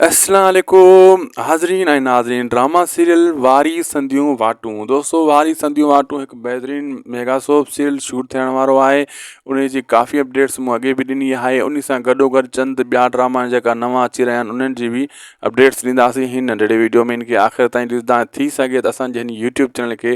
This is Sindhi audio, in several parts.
اسلام عليڪم حاضرين ۽ ناظرين ڊراما سيريل واري سنديون واٽون دوستو واري سنديون واٽون هڪ بهترين ميگا سوپ سيريل شوٽ ٿيڻ وارو آهي ان جي ڪافي اپڊيٽس مون اڳي به ڏني آهي ان سان گڏو گڏ چند ٻيا ڊراما جيڪا نوان اچي رهيا آهن انهن جي به اپڊيٽس ڏينداسين هن ننڍڙي ويڊيو ۾ ان کي آخر تائين ڏسدا ٿي سگهي ته اسانجي هن يوٽيوب چينل کي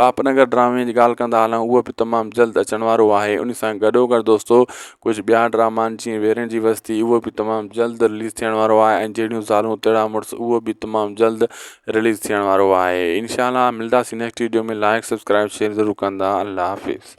پاپ نگر ڊرامي جي ڳالهه ڪندا هلان اهو به تمام جلد اچڻ وارو آهي ان سان گڏو گڏ دوستو ڪجهه ٻيا ڊراما آهن جيئن ويرين جي وستي اهو به تمام جلد رليز ٿيڻ وارو آهي ۽ جهڙيون زالون تهڙا مڙس اهو به تمام جلد رليز ٿيڻ وارو آهي انشاء الله ملنداسي next video ۾ like subscribe share ضرور ڪندا الله حافظ